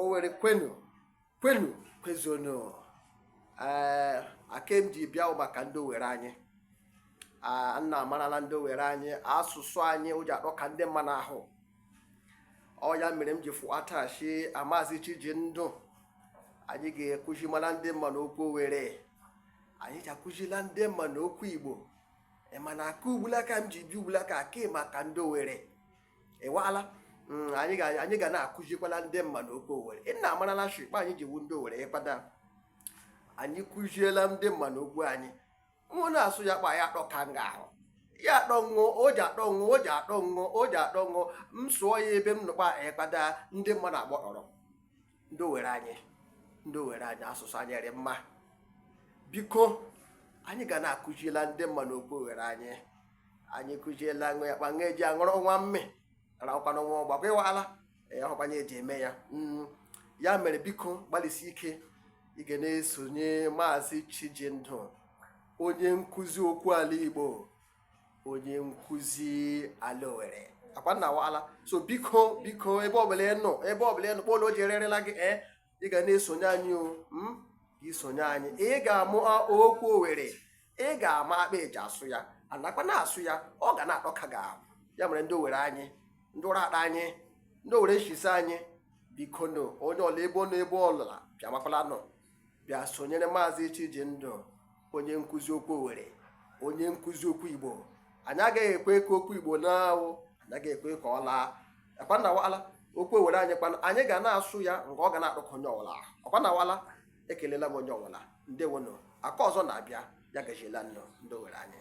Owere kwenu kwenu kwezonu ee eh, akem ji bịa maka ndị owere anyị nna amarala ndị owere anyị asụsụ anyị ọ ji atọka ndị mmanụ ahụ ọ ya mere m ji fụata shi maazị Chijindụ anyị ga-akụzimala ndị mmanụ okwu owere anyị ji akụzila ndị mmanụ okwu igbo mana aka ugbulaka m ji bịa ugbulaka ake maka ndị owere ịwala mm, anyị ga na-akụzikwala ndị mmanụ okwu owere nna amarala shi kpa anyị ji wụ ndị owere ịkpata anyị kụziela ndị mmanụ okwu anyị mụ na-asụ ya kpa ya atọka nga ahụ ya atọ ṅụọ o ji atọ ṅụọ o ji atọ ṅụọ o ji atọ ṅụọ m sụọ ya ebe m nụkpa ịkpata ndị mmanụ agbọrọ ndị owere anyị ndị owere anyị asụsụ anyị dị mma biko anyị ga na-akụziela ndị mmanụ okwu owere anyị anyị kụziela ṅụ ya kpa ṅụ eji aṅụrụ nwa mme rakwana nwa ọgbakwa ịwala ọkwanye eji eme ya mm, ya mere biko gbalịsi ike ị ga na-esonye maazị Chijindụ onye nkụzi okwu ala Igbo onye nkụzi ala owere ọkwa nna wala so biko biko ebe ọbụla ị nọ ebe ọbụla ị nọ kpọlụ o ji ererela gị ee eh, ị ga na-esonye anyị o hmm? i sonye anyị ị ga-amụ okwu owere ị ga-ama kpa eji asụ ya anakwa na-asụ ya ọ ga na-atọka gị ahụ ya mere ndị owere anyị ndị Uratta anyị ndị owere nchi ise anyị bikonụ onye ọla ebe ọ nọ ebe ọwụla bịa makwala nọ bịa sonyere maazị Chijindụ onye nkụzi okwu Owere onye nkụzi okwu Igbo anyị agaghị ekwe ka okwu Igbo nwụọ anyị agaghị ekwe ka ọ laa ọkwa nna wala okwu Owere anyị kwana anyị ga na-asụ ya nke ọ ga na-atọka onye ọwụla ọkwa nna wala ekelela m onye ọwụla ndewono aka ọzọ na-abịa ya gaziela nnọọ ndị Owere anyị